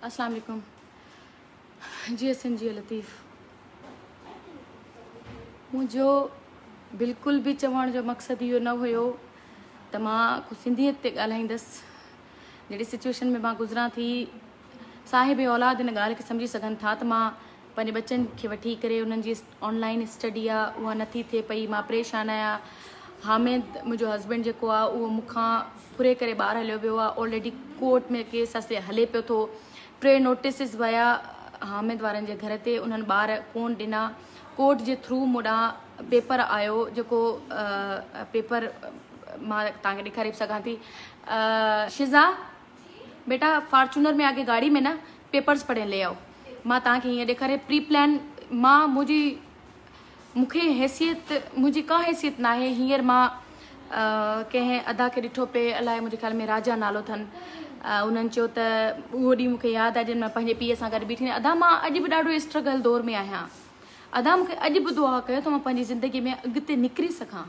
اسلام عليڪم جيئي سنڌ جيئي لطيف منهنجو بلڪل به چوڻ جو مقصد اهو نه هيو ته مان سنڌيت تي ڳالهائيندس جهڙي سچويشن ۾ مان گذران ٿي صاحب اولاد ان ڳالهه کي سمجهي سگهن ٿا ته مان پنهنجي ٻچن کي وٺي ڪري انهن جي آن لائين اسٽڊي آ اها نه ٿي ٿئي پئي مان پريشان آهيان حامد منهنجو هسبينڊ جيڪو آ اهو مون کان ڦري ڪري ٻاهر هليو ويو آ آلريڊي ڪورٽ ۾ ڪيس اسي هلي پيو ٿو ٽي نوٽيسز ويا حامد وارن جي گهر تي انهن ٻار ڪون ڏنا ڪورٽ جي ٿرو مون ڏانهن پيپر آيو جيڪو پيپر مان تان کي ڏيکاري به سگهان ٿي شزا بيٽا فارچونر ۾ آگي گاڙي ۾ نه پيپرز پڙهين لي آئو مان توهان کي هيئن ڏيکاري پري پلان مان منهنجي مون کي حيثيت منهنجي ڪا حيثيت ناهي هينئر مان ڪنهن ادا کي ڏٺو پئي الاء منهنجي خيال ۾ راجا نالو اٿن انهن چيو ته اهو ڏينهن مون کي ياد آهي جڏهن مان پنهنجي پيء سان گڏ بيٺي ادا مان اڄ به ڏاڍو اسٽرگل دور ۾ آهيان ادا مون کي اڄ به دعا ڪيو ته مان پنهنجي زندگي ۾ اڳتي نڪري سگهان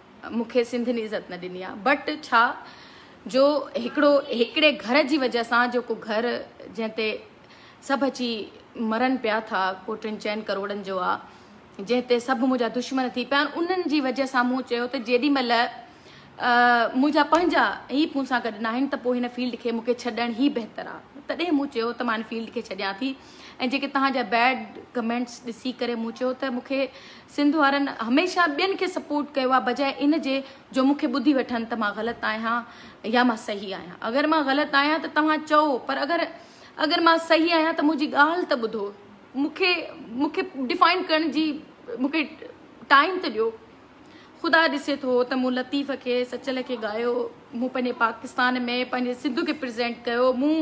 مون کي سنڌ ني عزت نه ڏني آ بٽ ڇا جو هڪڙو هڪڙي گهر جي وجه سان جو ڪو گهر جنهن تي سڀ اچي مرن پيا ٿا ڪو ٽن چئن ڪروڙن جو آ جنهن تي سڀ منهنجا دشمن ٿي پيا انهن جي وجه سان مون چيو ته جيڏي مهل منهنجا پنهنجا هي مون سان گڏ ناهن ته پوء هن فيلڊ کي مون کي ڇڏڻ هي بهتر آ تڏهن مون چيو ته مان هن فيلڊ کي ڇڏيان ٿي ۽ جيڪي توهان جا بيڊ ڪمينٽس ڏسي ڪري مون چيو ته مون کي سنڌ وارن هميشه ٻين کي سپورٽ ڪيو آهي بجاء ان جي جو مون کي ٻڌي وٺن ته مان غلط آهيان يا مان صحيح آهيان اگر مان غلط آهيان ته توهان چئو پر اگر اگر مان صحيح آهيان ته منهنجي ڳالهه ته ٻڌو مون کي مون کي ڊفائن ڪرڻ جي مون کي ٽائم ته ڏيو خدا ڏسي ٿو ته مون لطيف کي سچل کي ڳايو مون پنهنجي پاڪستان ۾ پنهنجي سنڌ کي پريزينٽ ڪيو مون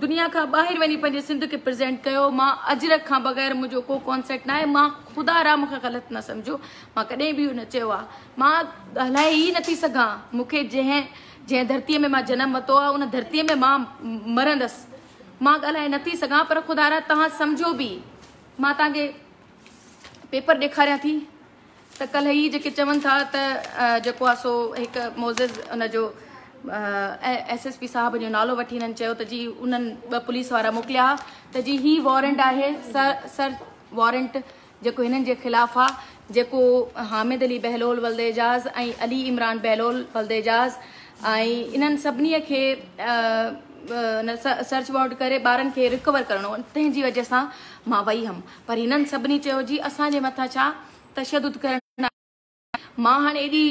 دنيا کان ٻاهر وڃي پنهنجي سنڌ کي پريزينٽ ڪيو مان اجرڪ کان بغير منهنجو ڪو ڪانسيٽ ناهي مان خدا را مونکي غلط نه سمجهو مان ڪڏهن به اهو نه چيو آهي مان ڳالهائي ئي نٿي سگهان مونکي جنهن جنهن ڌرتي ۾ مان جنم وتو آهي ان ڌرتي ۾ مان مرندس مان ڳالهائي نٿي سگهان پر خدا را توهان سمجهو به مان توهان کي پيپر ڏيکاريان ٿي ته ڪلهه هي جيڪي چون ٿا ته جيڪو آ سو هڪ معزز ان جو ايس ايس پي صاحب جو نالو وٺي هنن چيو ته جي انهن ٻه پوليس وارا موڪليا ها ته جي هي وارنٽ آهي سرچ وارنٽ جيڪو هنن جي خلاف آ جيڪو حامد علي بهلول ولد اعجاز ۽ علي عمران بهلول ولد اعجاز ۽ انهن سڀني کي سرچ وارنٽ ڪري ٻارن کي رڪور ڪرڻو تنهن جي وجه سان مان وئي هم. پر هنن سڀني چيو جي اسان جي مٿان ڇا تشدد ڪرڻ آيا آهن مان هاڻ ايڏي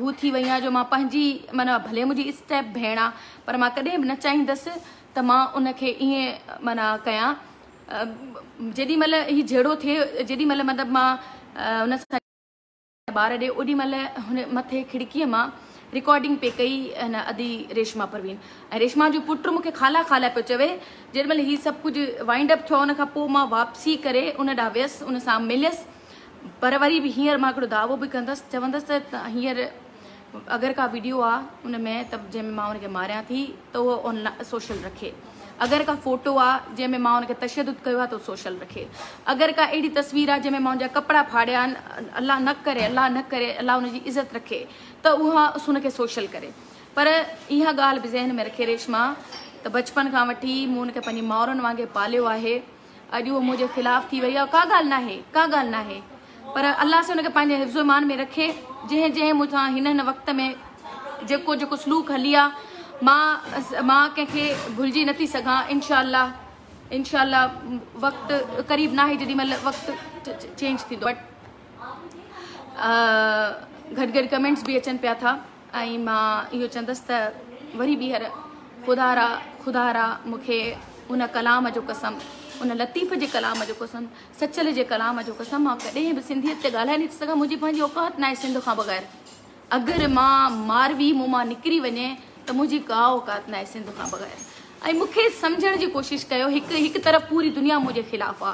هو ٿي وئي آهيان جو مان پنهنجي معنيٰ ڀلي منهنجي اسٽيپ ڀيڻ آ پر مان ڪڏهن به نه چاهيندس ته مان ان کي ائين معنيٰ ڪيان جيڏي مهل هي جهيڙو ٿئي جيڏي مهل مطلب مان هن سان ٻار ڏي اوڏي مھل ھن مٿي کڙڪيء مان رڪارڊنگ پئي ڪئي ھن ادي ريشما پروين ۽ ريشما جو پٽ مون کي خالا خالا پيو چوي جيڏي مھل ھي سڀ ڪجھ وائنڊ اپ ٿيو ان کان پوء مان واپسي ڪري ان ڏانھن ويس ان سان مليس پر وري به ھينئر مان ھڪڙو دعوو به ڪندس چوندس ته ھينئر اگر ڪا ويڊيو آ ان ۾ ته جنهن ۾ مان ان کي ماريان ٿي ته اهو آن لائن سوشل رکي اگر ڪا فوٽو آ جنهن ۾ مان ان کي تشدد ڪيو آ ته سوشل رکي اگر ڪا اهڙي تصوير آ جنهن ۾ مان ان جا ڪپڙا ڦاڙيا آهن الله نه ڪري الله نه ڪري الله ان جي عزت رکي ته اها ان کي سوشل ڪري پر اها ڳالهه به ذهن ۾ رکي ريشما ته بچپن کان وٺي مون ان کي پنهنجي ماورن وانگي پاليو آهي اڄ هوء منهنجي خلاف ٿي وئي آهي ڪا ڳالهه ناهي ڪا ڳالهه ناهي پر الله سي هن کي پنهنجي حفظ و امان ۾ رکي جنهن جنهن مون سان هن هن وقت ۾ جيڪو جيڪو سلوڪ هلي آ مان مان ڪنهن کي ڀلجي نٿي سگهان انشاء الله انشاء الله وقت قريب ناهي جيڏي مهل وقت چينج ٿيندو بٽ گهٽ گهٽ ڪمينٽس به اچن پيا ٿا ۽ مان اهو چندس ته وري ٻيهر خدا را خدا را مونکي ان ڪلام جو قسم ان لطيف جي ڪلام جو قسم سچل جي ڪلام جو قسم مان ڪڏهن به سنڌيت تي ڳالهائي نٿي سگهان منهنجي پنهنجي اوقات ناهي سنڌ کان بغير اگر مان ماروي مون مان نڪري وڃي ته منهنجي ڪا اوقات ناهي سنڌ کان بغير ۽ مونکي سمجهڻ جي ڪوشش ڪيو هڪ هڪ طرف پوري دنيا منهنجي خلاف آ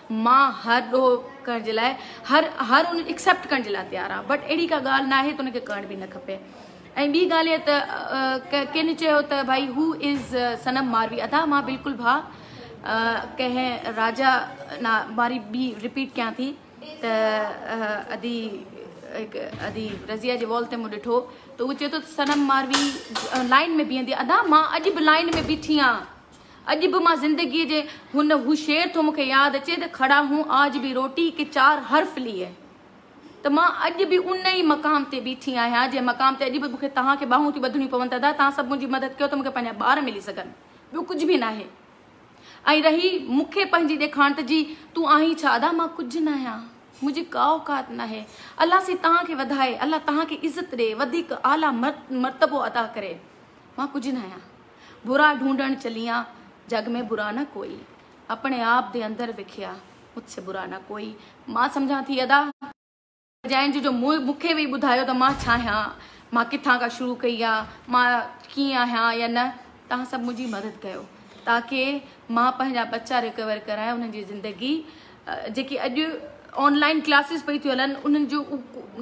مان هر ڏوهه ڪرڻ جي لاء هر هر ان اڪسيپٽ ڪرڻ جي لاء تيار آهيان بٽ اهڙي ڪا ڳالهه ناهي ته ان کي ڪرڻ به نه کپي ۽ ٻي ڳالهه هي ته ڪن چيو ته ڀائي هو از صنم ماروي ادا مان بلڪل ڀا ڪنهن راجا نا واري ٻي رپيٽ ڪيان ٿي ته ادي ادي رضيا جي وال تي مون ڏٺو ته هو چيو ته صنم ماروي لائن ۾ بيهندي ادا مان اڄ به لائن ۾ بيٺي آهيان اڄ به مان زندگيء جي هن هو شعر ٿو مون کي ياد اچي ته کڙا هون آج ڀي روٽي ڪي چار حرف ليئي ته مان اڄ به ان ئي مقام تي بيٺي آهيان جنهن مقام تي اڄ به مون کي توهان کي ٻانهون ٿيون ٻڌڻيون پون ته ادا توهان سڀ منهنجي مدد ڪيو ته مون کي پنهنجا ٻار ملي سگهن ٻيو ڪجهه به ناهي ۽ رهي مون کي پنهنجي ڏيکاڻ ته جي تون آهين ڇا ادا مان ڪجهه ناهيان منهنجي ڪا اوقات ناهي الله سائين توهان کي وڌائي الله توهان کي عزت ڏي وڌيڪ اعليٰ مرتبو عطا ڪري مان ڪجهه ناهيان. برا ڍونڍڻ چليان جڳ ۾ برا نه ڪوئي اپڻي آپ دي اندر وکيا مجھ سي برا نه ڪوئي مان سمجھان ٿي ادا جنهن جو جو مون کي وي ٻڌايو ته مان ڇا آهيان مان ڪٿان کان شروع ڪئي آ مان ڪيئن آهيان يا نه توهان سڀ منهنجي مدد ڪيو تاڪي مان پنهنجا ٻچا ريڪور ڪرايان انهن جي زندگي جيڪي اڄ آنلائن ڪلاسز پئي ٿيون هلن انهن جو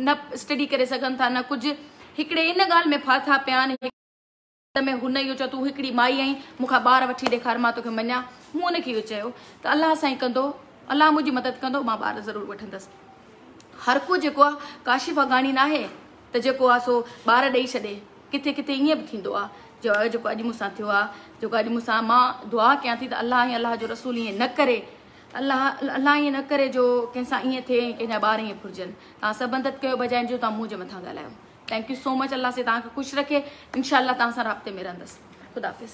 نه اسٽڊي ڪري سگهن ٿا نه ڪجهه هڪڙي ان ڳالهه ۾ ڦاٿا پيا آهن انت ۾ هن اهو چيو، تون هڪڙي مائي آهين، مون کان ٻار وٺي ڏيکار مان توکي مڃان. مون هن کي اهو چيو ته الله سائين ڪندو، الله منهنجي مدد ڪندو، مان ٻار ضرور وٺندس. هرڪو جيڪو آ ڪاشف افغاني ناهي ته جيڪو آ سو ٻار ڏئي ڇڏي، ڪٿي ڪٿي ائين به ٿيندو آ، جو جيڪو اڄ مون سان ٿيو آ، جيڪو اڄ مون سان مان دعا ڪيان ٿي ته الله ۽ الله جو رسول ائين نه ڪري، الله الله ائين نه ڪري جو ڪنهن سان ائين ٿئي ۽ ڪنهن جا ٻار ائين ڦرجن، توهان سڀ انت ڪيو بجاء ان جو توهان منهنجي مٿان ڳالهايو. ٿينڪ يو سو مچ الله سائين توهان کي خوش رکي انشاء الله توهان سان رابطي ۾ رهندس خداحافظ.